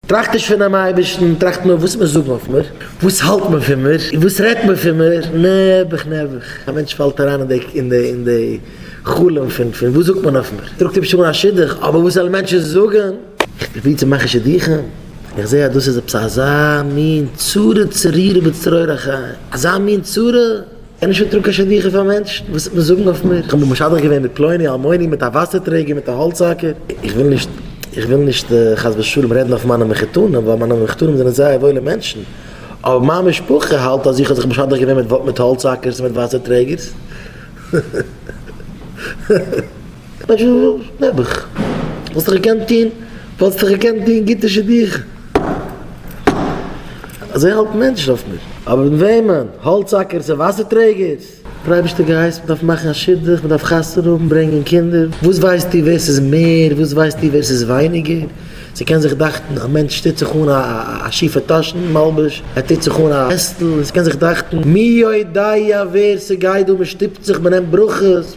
טראכט נישט פונעם אייבערשטן, טראכט נאר וואס מען זאגן אויף מיר, וואס האלט מען פון מיר, און וואס רעדט מען פון מיר, נעבעך נעבעך, א מענטש פאלט אריין אין די אין די אין די חלום פון פון וואס זאגט מען אויף מיר, טראגט היבש אן א שידוך, אבער וואס זאלן מענטשן זאגן. איך פרוביר צו מאכן שידוכים, און איך זע אז דאס איז עפעס אזא מין צרה צרורה בצרור החיים, אזא מין צרה, אין נישט געטראגן קיין שידוכים פאר מענטשן, וואס וועט מען זאגן אויף מיר? איך האב מיך משדך געווען מיט פלוני אלמוני, מיט א וואסער טרעגער, מיט א האלץ האקער. איך וויל נישט, איך וויל נישט חס ושלום רעדן אויף מיינע מחותנים, ווייל מיינע מחותנים זענען זייער וואוילע מענטשן, אבער מיין משפחה האלט אז איך האב זיך משדך געווען מיט האלץ האקערס און מיט וואסער טרעגערס. נעבעך, וואלסט דאך געקענט טון, וואלסט דאך געקענט טון גוטע שידוכים. אזוי האלטן מענטשן אויף מיר. אבער מיט וועמען? האלץ האקערס און וואסער טרעגערס? דער אייבערשטער געהייסט, מען דארף מאכן א שידוך, מען דארף חתונה האבן, ברענגען קינדער. וואס ווייסטו ווער ס'איז מער, וואס ווייסטו ווער ס'איז ווייניגער? ס'קען זיך דאכטן א מענטש טוט זיך אן א שיפע טאשן מלבוש, ער טוט זיך אן א וועסטל, און ס'קען זיך דאכטן מי יודע ווער ס'גייט דא, מען שטופט זיך, מען נעמט ברכות.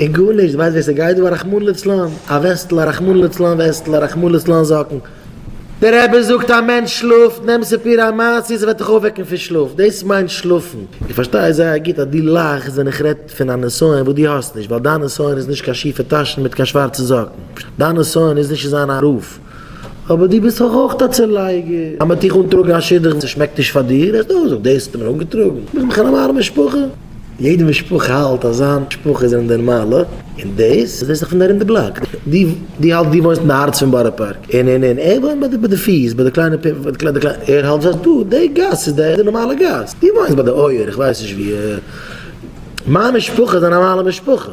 און גארנישט, ווייסט ווער ס'גייט דא? א רחמנא לצלן, א וועסטל, א רחמנא לצלן וועסטל, א רחמנא לצלן זאקן. דער רבי זאגט א מענטש שלאפט, נעם ס'פיר א מעשה ס'וועט דיך אויפוועקן פון שלאף, דאס מיינט שלאפן. איך פארשטיי זייער גוט אז דו לאכסט ווען איך רעד פון א נסיון וואס דו האסט נישט, ווייל דיין נסיון איז נישט קיין שיפע טאשן מיט קיין שווארצע זאקן, דיין נסיון איז נישט צו זיין א רב, אבער דו ביסט דאך אויך א צולייגער, אז מ'האט דיך אנטראגן א שידוך און ס'שמעקט נישט פאר דיר, וועסטו אויך זאגן דאס האט ער מיר אנגעטראגן, ביזט מיך אן אמארע משפחה. יעדע משפחה האלט אז זיין משפחה זענען נערמאלע, און דאס איז דאך פון ארום די בלאק, דו האלטסט דו וואוינסט אין די הארץ פון בארא פארק, און און און ער וואוינט ביי די פיס, ביי די קליינע פינטל, ער האלט אז דא די גאס איז די נארמאלע גאס, דו וואוינסט ביי די אויער, איך ווייס נישט ווי, מיין משפחה איז א נארמאלע משפחה.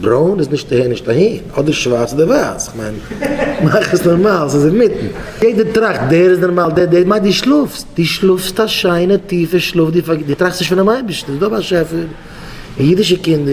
ברוין איז נישט אהער נישט אהין, אדער שווארץ אדער ווייס, כ'מיין, מאך עס נארמאל, ס'איז אינמיטן. יעדער טראכט דער איז נארמאל דער דער מיינט דו שלאפסט, דו שלאפסט א שיינע טיפע שלאף, דו טראכסט נישט פונעם אייבערשטן, ס'איז דא א באשעפער, און אידישע קינדער.